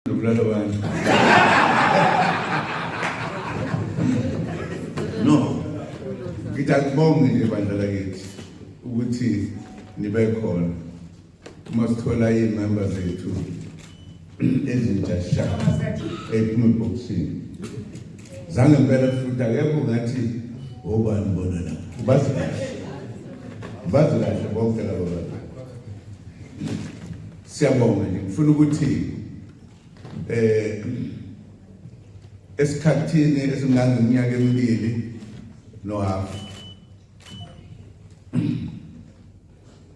nokubulala abantu no ngithi akubonge nje bandla lakithi ukuthi nibe khona uma sithola iy'memba zethu ezintsha sha ephuma ebhokisini zange mpela futhi akekho ngathi obani bona la ubazi kahle ubazi kahle bonke labo bantu Siyabonga nje ngifuna ukuthi eh esikhathini esingangeminyaka emibili no half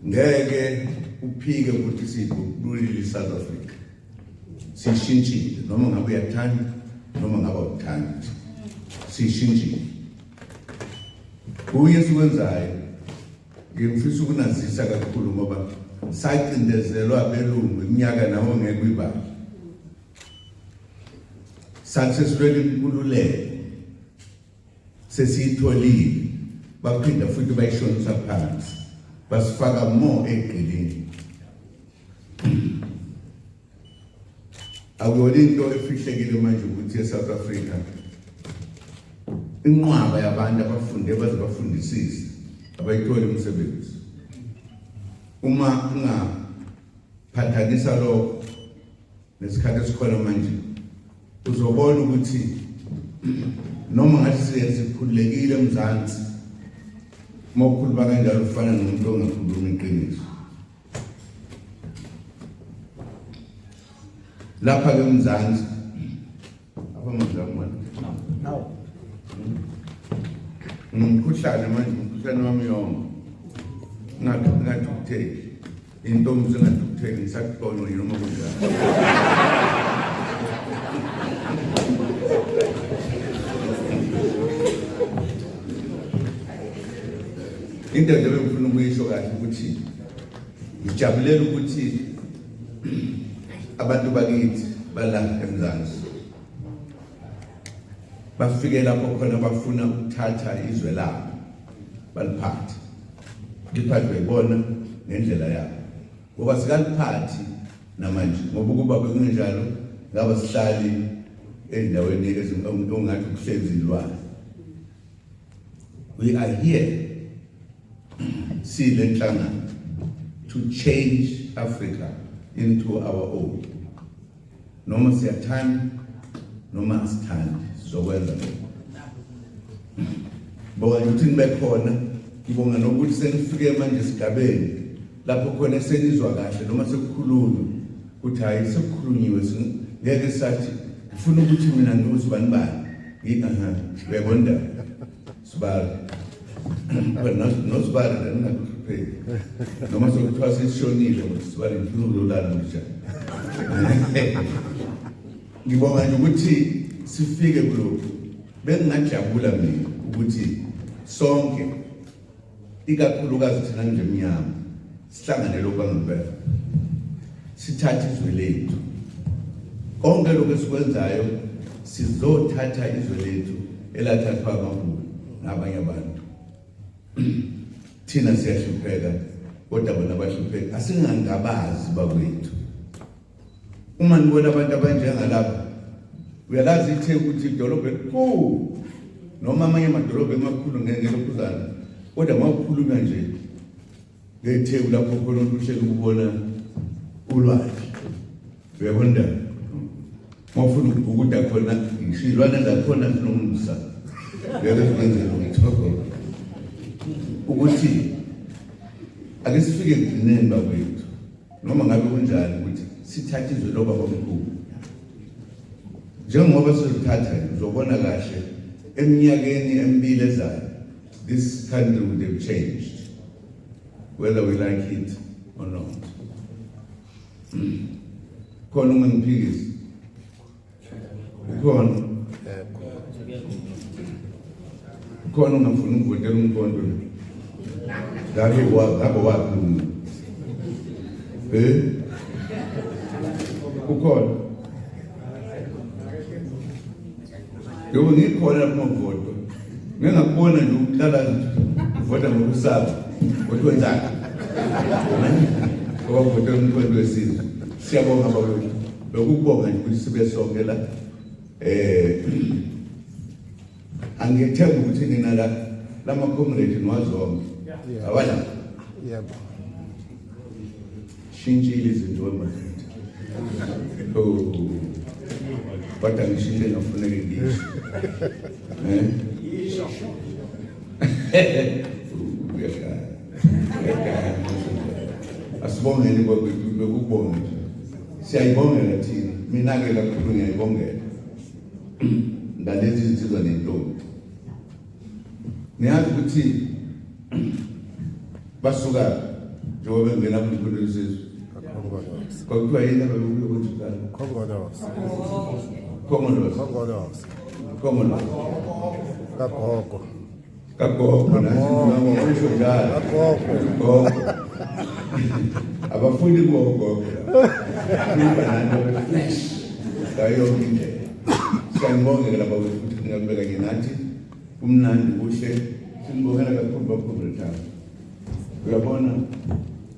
ngeke uphike ukuthi sikululile South Africa sishintshile noma ngabe uyathanda noma ngabe awuthandi sishintshile kuye sikwenzayo Ngifisa ukunazisa kakhulu ngoba sacindezelwa abelungu iminyaka nawo ngeke uyibale. Sasesilwela inkululeko sesiyitholile baphinda futhi bayishonisa phansi basifaka more egqilini Akuyona into efihlekile manje ukuthi eSouth Africa inqwaba yabantu abafunde baze bafundisise abayitholi umsebenzi uma ungaphathanisa lokho nesikhathi esikhona manje uzobona ukuthi noma ngathi siye sikhululekile emzansi uma ukhuluma kanjalo ufana nomuntu ongakhulumi iqiniso lapha ke mzansi apha mzansi manje nawo ngumkhuhlane manje umkhuhlane wami yonke ngathi ngathi uthe intombi sengathi uthe ngisakubona noma kunjani Into nje bengifuna ukuyisho kahle ukuthi ngijabulela ukuthi abantu bakithi bala eMzansi bafike lapho khona bafuna ukuthatha izwe labo baliphathe liphathwe ibona ngendlela yabo ngoba sikaliphathi namanje ngoba ukuba bekunjalo ngaba sihlali endaweni ezingathi kuhlezi ilwane We are here siyilenhlangano to change Africa into our own noma siyathanda noma asithandi sizokwenza lokho bonga ukuthi nibe khona ngibonga nokuthi senifike manje esigabeni lapho khona senizwa kahle noma sekukhulunywa ukuthi hhayi sekukhulunyiwe ngeke sathi ngifuna ukuthi mina ngiwuzibani bani Aha, uyabona indaba. Sibali. Wena nosibali la ningakupheli. Noma sekuthiwa sishonile ukuthi sibali ngifuna ukulala manje. Ngibonga nje ukuthi sifike kulokhu. Bengingajabula mina ukuthi sonke ikakhulukazi thina nje mnyama sihlanganele okwangempela sithathe izwe lethu konke lokho esikwenzayo sizothatha izwe lethu elathathwa amabhulu nabanye abantu thina siyahlupheka kodwa bona bahlupheka asingangabazi bakwethu uma nibona abantu abanjengalaba uyalazi ithe ukuthi idolobha elikhulu noma amanye amadolobha emakhulu ngelokhuzana kodwa mawukhuluma nje ngetheku lapho khona uhlele ukubona ulwandle uyabona mawufuna ukubhukuda khona ngisho izilwane zakhona zinomsa ngeke zikwenzela umthoko ukuthi ake sifike ekugcineni bakwethu noma ngabe kunjani ukuthi sithathe izwe lobaba mkhulu njengoba sizothatha uzobona kahle eminyakeni emibili ezayo this country would have changed whether we like it or not khona uma ngiphikisa Ikhona. Ikhona ungafuni ukuvotela umkondo. Ngabe wa ngabe wakhuluma. Eh? Ukhona. Yebo ngikhona lapho voto. Ngingakubona nje ukuhlala vota ngokusaba. Kodwa njani? Ngoba vota umkondo wesizwe. Siyabonga bakwethu. Nokubonga nje ukuthi sibe sonke la eh angithemba ukuthi nina la lama comrade niwazonke abala yebo shintshile izinto wemafethu oh but angishintile ngafuneke ngisho eh asibongeni bekukubonge nje siyayibongela thina mina-ke kakhulu ngiyayibongela ngalezi zinsizwa nentombi niyazi ukuthi basuka njengoba bengena kumfundo yesizwe kwakuthiwa yini ababekuyo ukuthi kuqala khongolos khongolos khongolos kagogo kagogo abafundi gogo ibanana beflash ngayonke indlela siyanibongeka laba futhi ningabeka ke nathi kumnandi kuhle sinibongela kakhulu bakhulu lethabo uyabona